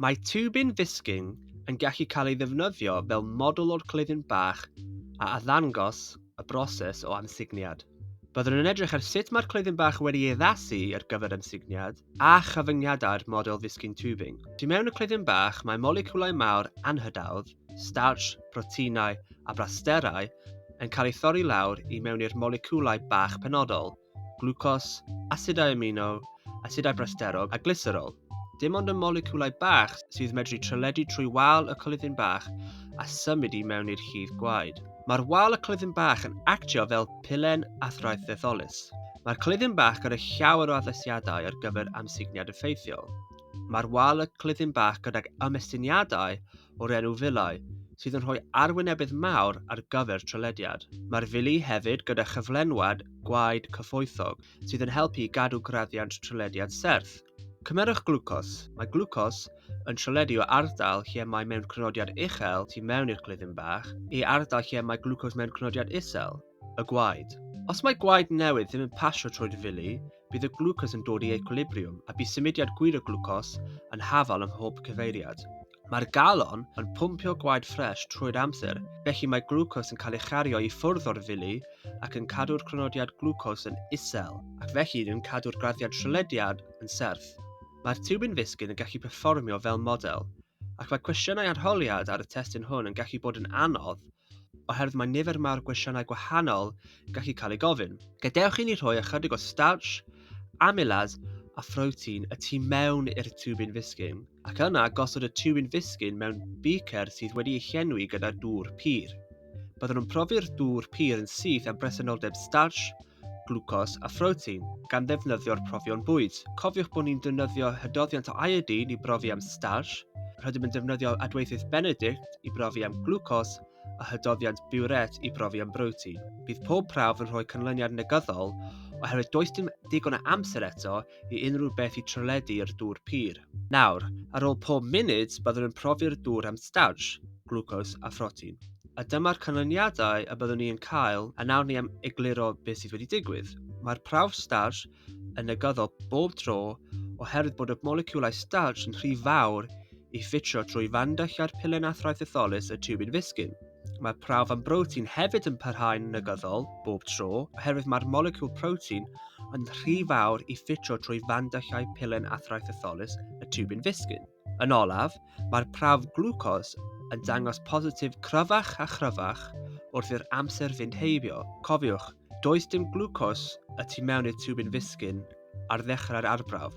Mae tiwbin Visking yn gallu cael ei ddefnyddio fel model o'r cleifion bach a addangos y broses o amsugniad. Byddwn yn edrych ar sut mae'r cleifion bach wedi ei addasu ar gyfer amsugniad a chyfyngiadau'r model Visking tubing. Tu mewn y cleifion bach mae moleciwlau mawr anhydawdd, starch, proteinau a brasterau yn cael eu thorri lawr i mewn i'r moleciwlau bach penodol glwcos, asidau amino, asidau brasterog a glyserol. Dim ond y moleciwlau bach sydd medru treledu trwy wal y coledyn bach a symud i mewn i'r llif gwaed. Mae'r wal y coledyn bach yn actio fel pilen athraeth ddetholus. Mae'r coledyn bach gyda llawer o addasiadau ar gyfer amsugniad effeithiol. Mae'r wal y coledyn bach gydag ymestiniadau o'r enw Vilae, sydd yn rhoi arwynebedd mawr ar gyfer trylediad. Mae'r Vilae hefyd gyda chyflenwad gwaed cyfoethog sydd yn helpu i gadw graddiant trylediad serth. Cymerwch glwcos. Mae glwcos yn tryledi o ardal lle mae mewn crynodiad uchel tu mewn i'r clefyn bach i ardal lle mae glwcos mewn crynodiad isel. y gwaed. Os mae gwaed newydd ddim yn pasio trwy'r fili, bydd y glwcos yn dod i equilibriwm a bydd symudiad gwir y glwcos yn hafal ym mhob cyfeiriad. Mae'r galon yn pwmpio gwaed ffres trwy'r amser, felly mae glwcos yn cael ei chario i ffwrdd o'r fili ac yn cadw'r crynodiad glwcos yn isel, ac felly yn cadw'r graddiad trylediad yn serth. Mae'r tiwbin fisgyn yn gallu perfformio fel model, ac mae cwestiynau arholiad ar y testun hwn yn gallu bod yn anodd oherwydd mae nifer mawr gwestiynau gwahanol yn gallu cael ei gofyn. Gadewch i ni rhoi ychydig o starch, amylase a phrotein y tu mewn i'r tiwbin fisgyn, ac yna gosod y tiwbin fisgyn mewn beaker sydd wedi ei llenwi gyda dŵr pur. Byddwn yn profi'r dŵr pur yn syth am bresenoldeb starch, glwcos a phrotein gan ddefnyddio'r profion bwyd. Cofiwch bod ni'n defnyddio hydoddiant o iodine i brofi am starch, rydym yn defnyddio adweithydd Benedict i brofi am glwcos a hydoddiant biwret i brofi am brotein. Bydd pob prawf yn rhoi canlyniad negyddol oherwydd does dim digon o amser eto i unrhyw beth i trwledu i'r dŵr pur. Nawr, ar ôl pob munud, byddwn yn profi'r dŵr am starch, glwcos a phrotein. A dyma'r canlyniadau y byddwn ni yn cael, a nawr ni am egluro beth sydd wedi digwydd. Mae'r prawf starch yn negyddol bob tro oherwydd bod y moleciwlau starch yn rhy fawr i ffitio trwy fandylliau'r pilen athraidd thetholus y tiwbin fisgyn. Mae prawf am brotein hefyd yn parhau'n negyddol bob tro oherwydd mae'r moleciwl protein yn rhy fawr i ffitio trwy fandallau pilen athraitytholus y tiwbin fisgyn. Yn olaf, mae'r prawf glwcos yn dangos positif cryfach a chryfach wrth i'r amser fynd heibio. Cofiwch, does dim glwcos y tu mewn i'r tiwbin fisgyn ar ddechrau'r arbrawf.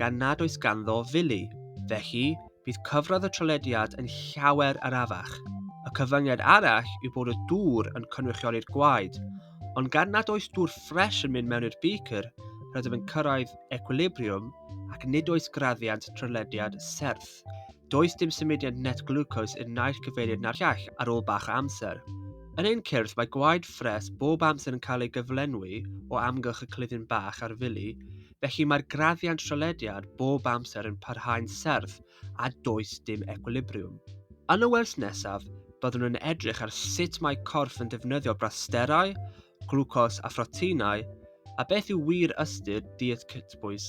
gan nad oes ganddo fili. Felly, bydd cyfradd y trolediad yn llawer arafach. Y cyfyngiad arall yw bod y dŵr yn cynrychioli'r gwaed, ond gan nad oes dŵr ffres yn mynd mewn i'r beaker, rydym yn cyrraedd equilibriwm ac nid oes graddiant trylediad serth. Does dim symudiad net glwcos i'r naill cyfeiriad na'r llall ar ôl bach o amser. Yn ein cyrff mae gwaed ffres bob amser yn cael ei gyflenwi o amgylch y cluddyn bach a'r fili, felly mae'r graddiant trallediad bob amser yn parhau'n serth a does dim ecwilibriwm. Yn y wers nesaf, byddwn yn edrych ar sut mae corff yn defnyddio brasterau, glwcos a phroteinau, a beth yw wir ystyr diet cytbwys.